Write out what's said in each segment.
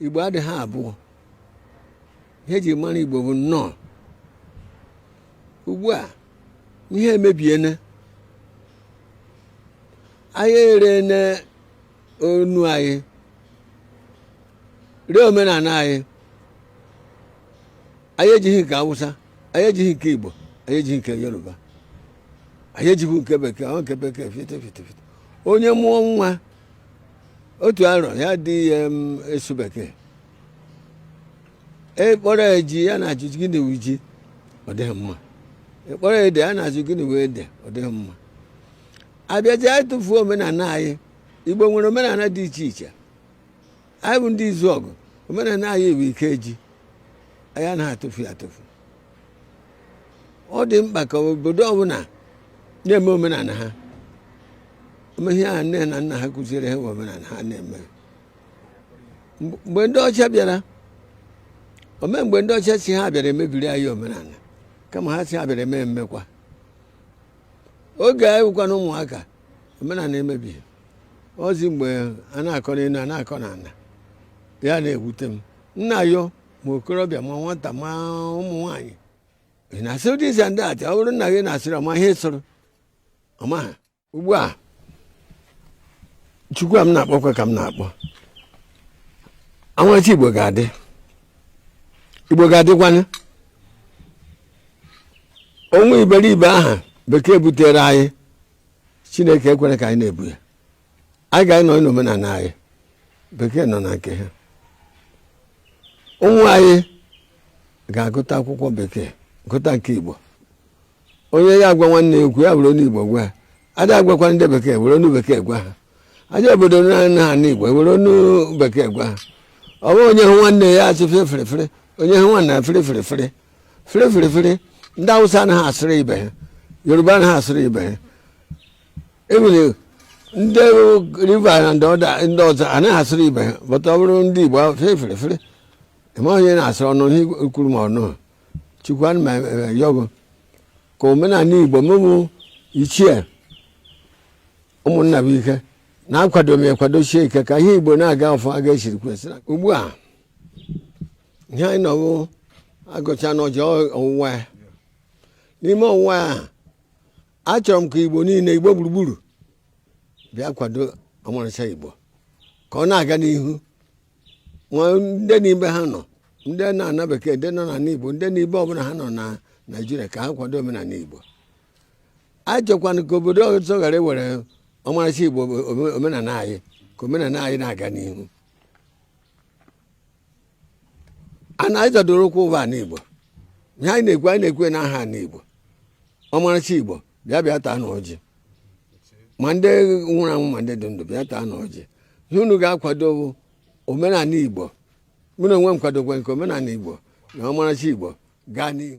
igbo adịghị abụọ ihe e ji mara igbo bụ ọnụ ugbu a ihe emebiene anyị erene ọnụ anyị ree omenala anyị anyị ejighị nke awụsa anyị ejighị nke igbo anyị ejighị nke yoruba anyị ejighị nke bekee ọ nke bekee fite fite fite onye mụọ nwa otu arọ ya dị ihe asụ bekee ị kpọrọ ya ji ya na-ajụ gịnị wụ ji ọ dịghị mma ị kpọrọ ya ede ya na-ajụ gịnị wụ ede ọ dịghị mma abịaji anyị tụfuo omenala anyị igbo nwere omenala dị iche iche anyị bụ ndị izuọgụ omenala anyị wụ ikeji anyị anaghị atụfu ya atụfu ọ dị mkpa ka obodo ọbụla na-eme omenala ha eme ihe nne na nna ha kụziere ha omenala ha na-eme mgbe ndị ọcha bịara ome mgbe ndị ọcha sị ha bịara mebiri anyị omenala kama ha sị ha bịara eme emekwa oge anyị bụkwanụ ụmụaka omenala emebighị ozi mgbe a na-akọ n'elu a na-akọ n'ala ya na-ewute m nna yo ma okorobịa ma nwata ma ụmụ nwaanyị ha na-asị this and that ọ bụrụ na ị na-asịrị ọ ma ihe ị sịrị ọ maha ugbu a chukwu a m na-akpọkwa ka m na-akpọ anwachi igbo ga-adị igbo ga-adịkwanụ onwe iberibe ahụ bekee butere anyị chineke ekwere ka anyị na-ebu ya anyị ga-anọ n'omenala anyị bekee nọ na nke ha ụmụ anyị ga-agụta akwụkwọ bekee gụta nke igbo onye ya agwa nwanne ya okwu ya were ọnụ igbo gwa ya a ga-agwakwa ndị bekee were ọnụ bekee gwa ha a gaa obodo na ha n'igbo were ọnụ bekee gwa ha ọ bụghị onye hụ nwanne ya achị fere fere onye hụ nwanne ya fere fere fere fere fere fere ndị awụsa anaghị asịrị ibe ha yoruba anaghị asịrị ibe ha enwere ndị rivers na ndị ọzọ anaghị asịrị ibe ha but ọ bụrụ ndị igbo fere fere fere ị ma onye a na-asịrị ọ nụ ihe e kwuru ma ọ nụha chukwu ana m ayọ gị ka omenala igbo ụmụ ichie ụmụnna bụ ike na-akwado m kwadosie ike ka ihe igbo na-aga ọfụma ka esiri kwesịrị ugbu a ihe anyị nọwụ a gọchanụ ọjị ọwụwa ya n'ime ọwụwa ya achọrọ m ka igbo niile igbo gburugburu bịa kwado ọmarịcha igbo ka ọ na-aga n'ihu ma ndị n'ibe ha nọ ndị nọ n'ana bekee ndị nọ n'ala igbo ndị n'ibe ọbụla ha nọ na naijiria ka ha kwado omenala igbo achọkwanụ ka obodo ọzọ ghara iwere ọmarịcha igbo ome- omenala anyị ka omenala anyị na-aga n'ihu ana anyị zọdoro ụkwụ wụ ana igbo ihe anyị na-ekwu anyị na-ekwu na aha n'igbo ọmarịcha igbo bịa bịa taanụ ọjị ma ndị nwụrụ anwụ ma ndị dị ndụ bịa taanụ ọjị ihe unu ga-akwado bụ omenala igbo mụ na onwe m kwadokwa nke omenala igbo na ọmarịcha igbo gaa n'ihu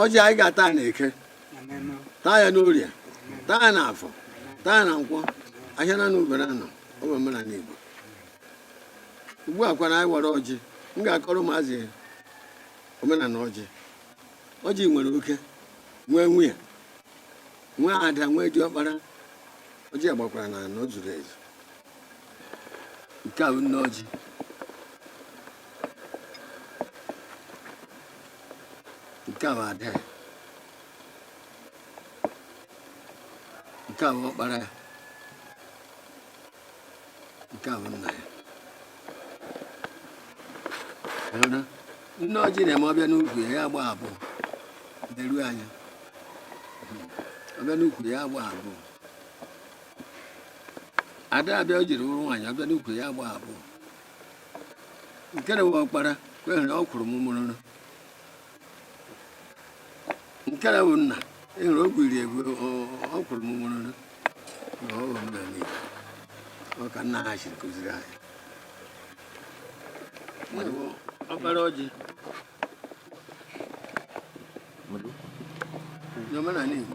ọjị anyị ga-ata ya na eke taa ya n'orie taa ya na afọ taa ya na nkwọ ahịa naanọ ubere anọ ọ bụ omenala igbo ugbu a kwana anyị wara ọjị m ga-akọrọ ụmụazị omenala ọjị ọjị nwere oke nwee nwunye nwee ada nwee diọkpara ọjị a gbakwara na anọ zuru ezu nke a bụ nne ọjị nke a bụ ada ya nke a bụ ọkpara ya nke a nna ya nne ọjị na-eme ọ bịa n'ukwu ya ya agba abụọ leruo anya ọ bịa n'ukwu ya agba abụọ ada abịa o jiri wụrụ nwaanyị ọ bịa n'ukwu ya agba abụọ nke na wụ ọkpara kwehere ọ kwụrụ mụmụrụrụ nke na bụ nna ịhụrụ e ogwu iri egwu ọ kwụrụ mụmụrụrụ na ọ ghọrọ na n'ihi ọ ka nna ha siri kụziri anyị ọkpara ọjị n'omenala Igbo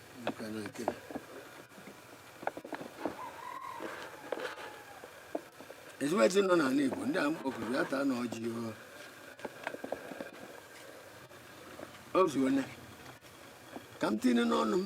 ezigbo ezi nọ n'ala Igbo ndị a m kpọkuru bịa taanụ ọjị o zuone ka m tinye n'ọnụ m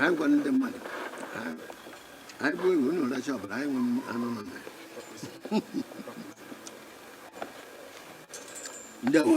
anyị gwara ndị mmadụ anyị gbuo ewu unu racha ọbara anyị nwe anụ nọnụ mma ndeewo